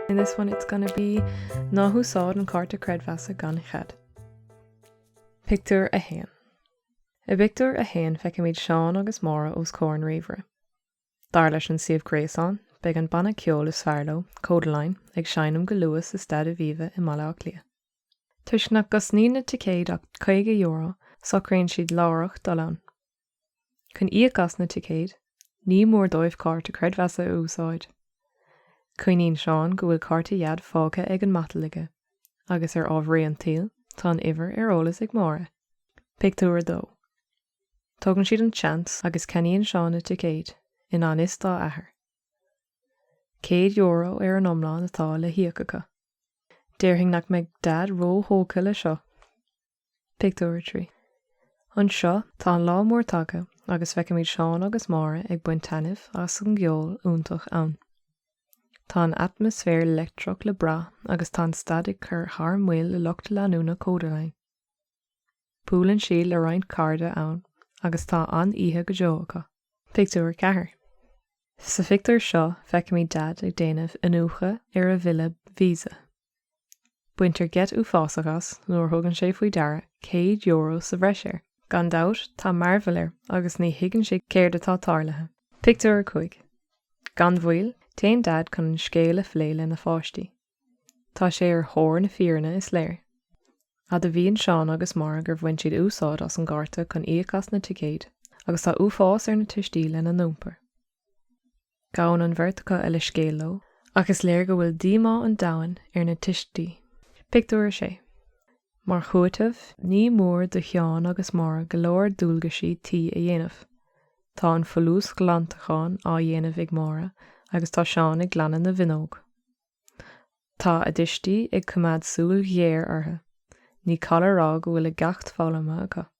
In this one it's gonna be Ná húsáid an cárta creidmheasa gan chead. Pictiúr 1 I bpictiúr 1 feicimid Seán agus Máire os comhair an ríomhaire. Dar leis an suíomh gréasáin, beidh an banna ceoil is fearr leo, Kodaline, ag seinm go luath sa Staid Aviva i mBaile Átha Cliath. Toisc nach gcosnaíonn na ticéid ach €50, socraíonn siad láithreach dul ann. Chun íoc as na ticéid, ní mór dóibh cárta creidmheasa a úsáid. Cuimhníonn Seán go bhfuil cárta Dhaid fágtha ar an matal aige, agus ar ámharaí an tsaoil, tá an uimhir ar eolas ag Máire. Pictiúr 2 Tógann siad an tseans agus ceannaíonn Seán na ticéid, i ngan fhios dá athair. Céad euro ar an iomlán atá le híoc acu. Déarfainn nach mbeidh Daid ró-thógtha le seo! Pictiúr 3. Anseo, tá an lá mór tagtha agus feicimid Seán agus Máire ag baint taitneamh as an gceol iontach ann. Tá an atmaisféar leictreach le brath agus tá an staid ag cur thar maoil le lucht leanúna Kodaline. Buaileann siad le roinnt cairde ann agus tá an-oíche go deo acu. Pictiúr 4 Sa phictiúr seo, feicimid Daid ag déanamh iniúchadh ar a bhille Visa. Baintear geit uafásach as nuair a thugann sé faoi deara céad euro sa bhreis air. Gan dabht, tá mearbhall air agus ní thuigeann sé céard atá tarlaithe. Pictiúr 5 Gan mhoill, téann Daid chun an scéal a phlé lena pháistí. Tá sé ar thóir na fírinne, is léir. Admhaíonn Seán agus Máire gur bhain siad úsáid as an gcárta chun íoc as na ticéid agus tá uafás ar na tuistí lena n-iompar. Gabhann an bheirt acu a leithscéal leo ach is léir go bhfuil díomá an domhain ar na tuistí. Pictiúr 6 Mar chúiteamh, ní mór do Sheán agus Máire go leor dualgaisí tí a dhéanamh. Tá an folúsghlantachán á dhéanamh ag Máire agus tá Seán ag glanadh na bhfuinneog. Tá a dtuistí ag coimeád súil ghéar orthu. Ní call a rá go bhfuil a gceacht foghlamtha acu.